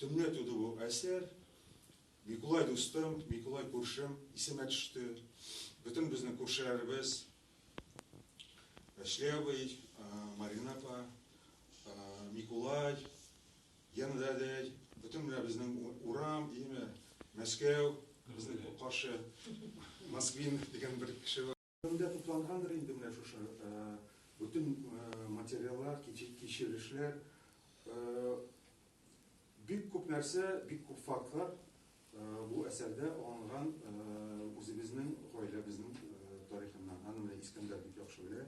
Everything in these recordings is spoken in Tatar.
Төнлә туды бу әсәр. Микулай дустым, Микулай күршем исемә төште. Бөтен безнең күршеләребез, Әшле абый, Марина апа, Микулай, Гена дәдәй, бөтен менә безнең урам, яме Мәскәү, безнең каршы Москвин дигән бер кеше бар. Кемдә туплангандыр инде менә шушы бөтен материаллар, кичерешләр, бик күп нәрсә, бик күп фактлар бу әсәрдә алынган үзебезнең гаиләбезнең тарихыннан. Аны менә Искәндәр бик яхшы белә.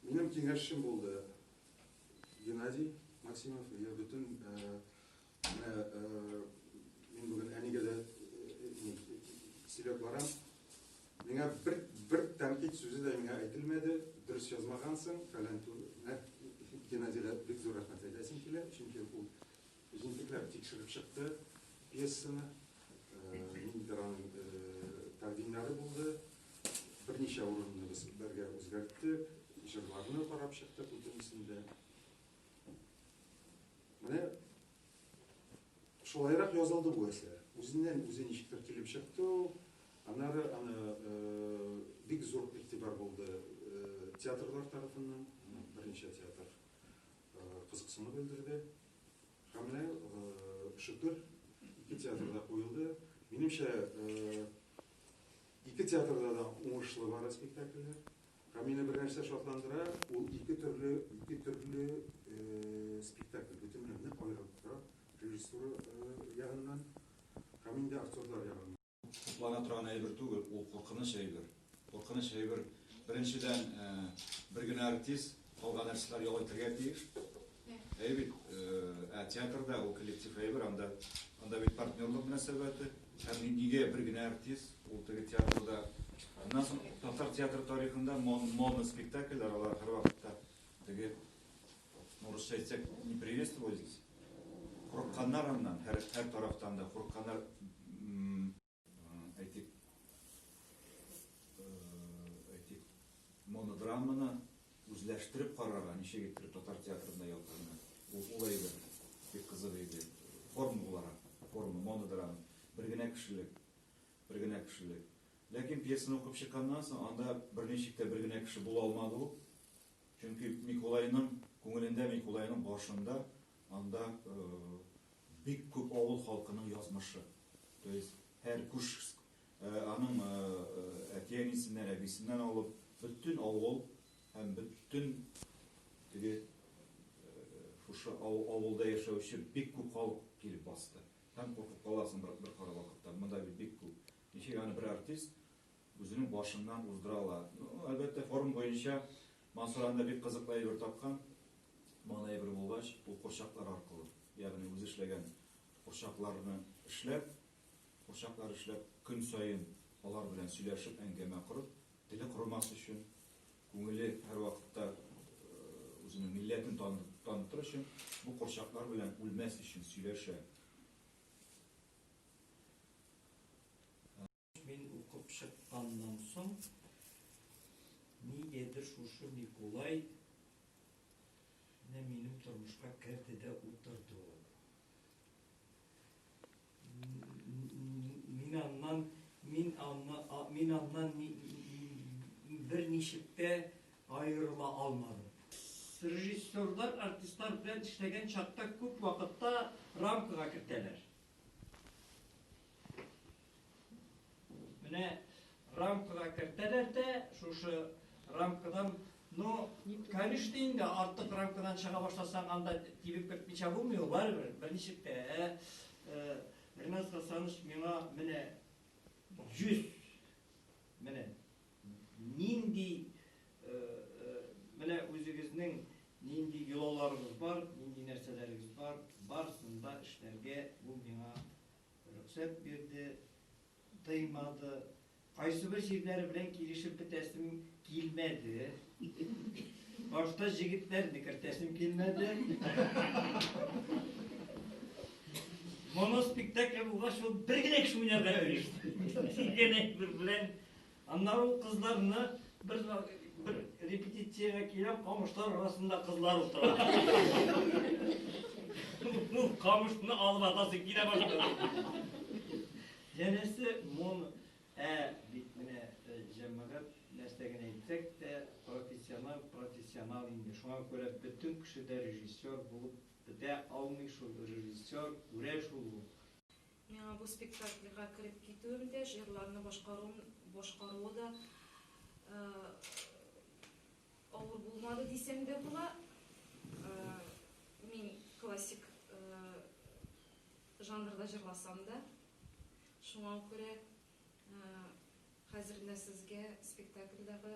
Минем киңәшчем булды Геннадий Максимов, бөтен Менә мин бүген әнигә дә сөйләп барам. Миңа бер бер тәнкыйть сүзе дә миңа әйтелмәде. Дөрес язмагансың, фәлән түгел. Геннадийга бик зур рәхмәт әйтәсем килә, чөнки ул җентекләп тикшереп чыкты пьесаны. Ниндидер аның тәкъдимнәре булды. Берничә урынны без бергә үзгәрттек, җырларны карап чыктык, бүтәнесен дә. Менә шулайрак язылды бу әсәр. Үзеннән үзе ничектер килеп чыкты ул. Аннары аны э, бик зур игътибар булды э, театрлар тарафыннан, берничә театр э, кызыксыну белдерде. Һәм менә э, шөкер, ике театрда куелды. Минемчә, э, ике театрда да уңышлы бара спектакльләр. Ә мине бер нәрсә шатландыра, ул ике төрле, ике төрле спектакль, бөтенләй нык аерылып тора, режиссура ягыннан һәм инде актерлар ягыннан. Хуплана торган әйбер түгел, ул куркыныч әйбер. Куркыныч әйбер, беренчедән, бер генә артист, калган артистлар ял итәргә тиеш. Әйе бит, ә театрда ул коллектив әйбер, анда, анда бит партнерлык мөнәсәбәте. Һәм нигә бер генә артист, ул теге театрда. Аннан соң татар театры тарихында моноспектакльләр, алар һәрвакытта теге, ну, русча әйтсәк, не приветствовались. Курыкканнар аннан, һәр, һәр тарафтан да курыкканнар. Әйтик, әйтик, монодраманы үзләштереп карарга, ничек иттереп татар театрында ялкынны. Ул улай иде, бик кызык иде. Форма буларак, форма, монодрама, бер генә кешелек, бер генә кешелек. Ләкин пьесаны укып чыкканнан соң, анда берничек тә бер генә кеше була алмады ул. Чөнки Микулайның күңелендә, Микулайның башында анда Бик күп авыл халкының язмышы, то есть һәр күш аның әти-әнисеннән, әбисеннән алып, бөтен авыл һәм бөтен теге шушы авылда яшәүче бик күп халык килеп басты. Һәм куркып каласың бер кара вакытта, монда бит бик күп. Ничек аны бер артист Үзенең башыннан уздыралар. Ну, әлбәттә, форум буенча Мансур анда бик кызыклы әйбер тапкан. Маңына әйбер булгач, ул курчаклар аркылы, ягъни үзе эшләгән курчакларны эшләп, курчаклар эшләп, көн саен алар белән сөйләшеп, әңгәмә корып, теле корымас өчен, күңеле һәрвакытта үзенең милләтен танытыр өчен, бу курчаклар белән үлмәс өчен сөйләшә. Мин укып чыкканнан соң, нигәдер шушы Микулай менә минем тормышка керде дә утырды ул. Мин аннан, мин аннан, мин аннан бер ничек тә аерыла алмадым. Режиссерлар артистлар белән эшләгән чакта күп вакытта рамкага кертәләр. Менә рамкага кертәләр дә, шушы рамкадан, ну, конечно, инде артык рамкадан чыга башласаң, анда тибеп кертмичә булмый ул, барыбер, берничек тә. Ә, э, Ренат Хасанович миңа менә 100 менә нинди э, э, менә үзегезнең нинди йолаларыгыз бар, нинди нәрсәләрегез бар, барысын да эшләргә бу миңа Рөхсәт бирде, тыймады. Кайсыбер җирләре белән килешеп бетәсем килмәде. Башта җегетләрне кертәсем килмәде. Моноспектакль булгач, ул бер генә кеше уйнарга кереште. Син генә бер белән Аннары ул кызларны, бер бер репетициягә киләм, камышлар арасында кызлар утыра. Ул камышны алып атасы килә башлады. Янәсе, мон, ә бит менә э, җәмәгать нәрсә генә әйтсәк тә, профессионал, профессионал инде. Шуңа күрә бөтен кеше дә режиссер булып бетә алмый шул. Режиссер күрә шул ул. Миңа бу спектакльгә кереп китүем дә, җырларны башкаруым башкаруы да авыр булмады дисәм дә була. Мин классик жанрда җырласам да. Шуңа күрә хәзер менә сезгә спектакльдагы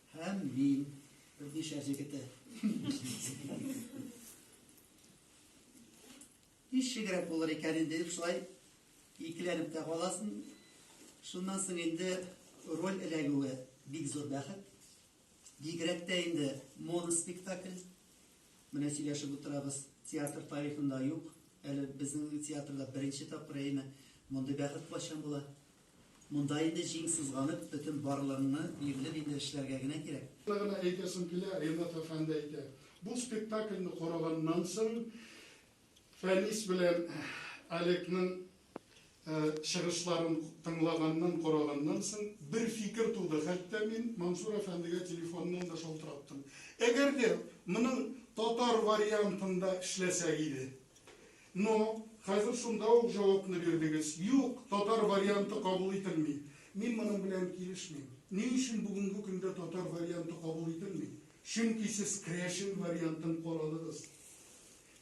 Һәм мин, Рудишә җегете. Ничегрәк булыр икән инде дип шулай икеләнеп тә каласың. Шуннан соң инде роль эләгүе бик зур бәхет. Бигрәк тә инде моноспектакль. Менә сөйләшеп утырабыз, театр тарихында юк. Әле безнең театрда беренче тапкыр әйме. Мондый бәхет кайчан була? Монда инде җиң сызганып, бөтен барлыгыңны бирелеп инде эшләргә генә кирәк. Шуны гына әйтәсем килә, Ринат әфәнде әйтә, бу спектакльне караганнан соң Фәнис белән Олегның чыгышларын тыңлаганнан, караганнан соң бер фикер туды, хәтта мин Мансур әфәндегә телефоннан да шалтыраттым. Әгәр дә моның татар вариантында эшләсәк иде, Но, хәзер шунда ук җавапны бирдегез. Юк, татар варианты кабул ителми. Мин моның белән килешмим. Ни өчен бүгенге көндә татар варианты кабул ителми? Чөнки сез крәшен вариантын карадыгыз.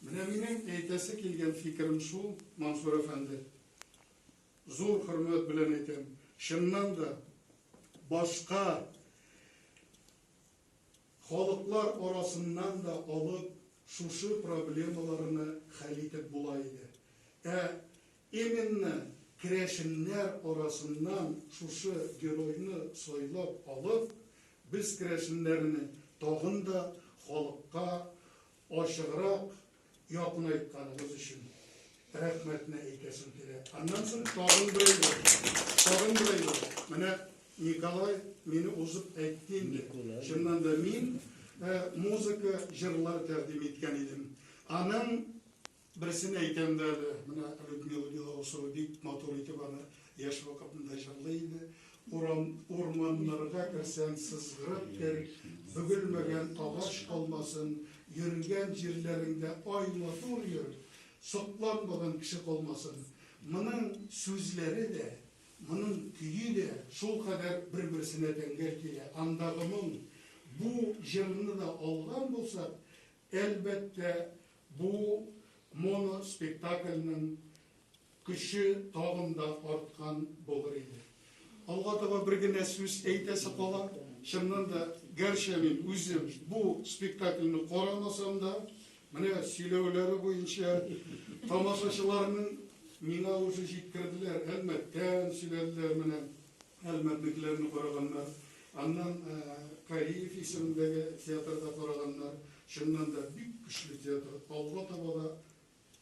Менә минем әйтәсе килгән фикерем шул, Мансур әфәнде. Зур хөрмәт белән әйтәм. Чыннан да, башка Халыклар арасыннан да алып шушы проблемаларны хәл итеп була иде. Ә именно керәшеннәр арасыннан шушы геройны сайлап алып, без керәшеннәрне тагын да халыкка ачыграк якынайтканыгыз өчен рәхмәтне әйтәсем килә. Аннан соң тагын берәйләр, тагын берәйләр. Менә Николай мине узып әйтте инде. Чыннан да мин э, музыка, җырлар тәкъдим иткән идем. Аның Берсен әйтәм дә әле, менә Людмила Белоусова бик матур итеп аны яшь вакытында җырлый иде. Урам, урманнарга керсәң, сызгырып кер, бөгелмәгән агач калмасын, йөргән җирләреңдә ай матур йөр, сокланмаган кеше калмасын. Моның сүзләре дә, моның көе дә шулкадәр бер-берсенә тәңгәл килә. Андагы моң. Бу җырны да алган булсак, әлбәттә, Бу моноспектакльнең көче тагын да арткан булыр иде. Алга таба бер генә сүз әйтәсе кала, чыннан да, гәрчә мин үзем бу спектакльне карамасам да, менә сөйләүләре буенча тамашачыларның миңа уже җиткерделәр, әлмәттән сөйләделәр менә. Әлмәтнекеләрне караганнар, аннан Кариев исемендәге театрда караганнар. Чыннан да, бик көчле театр. Алга таба да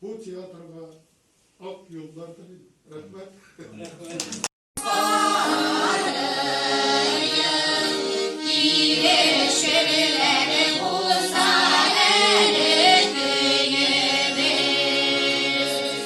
бу театрга ак юллар телим. Рәхмәт.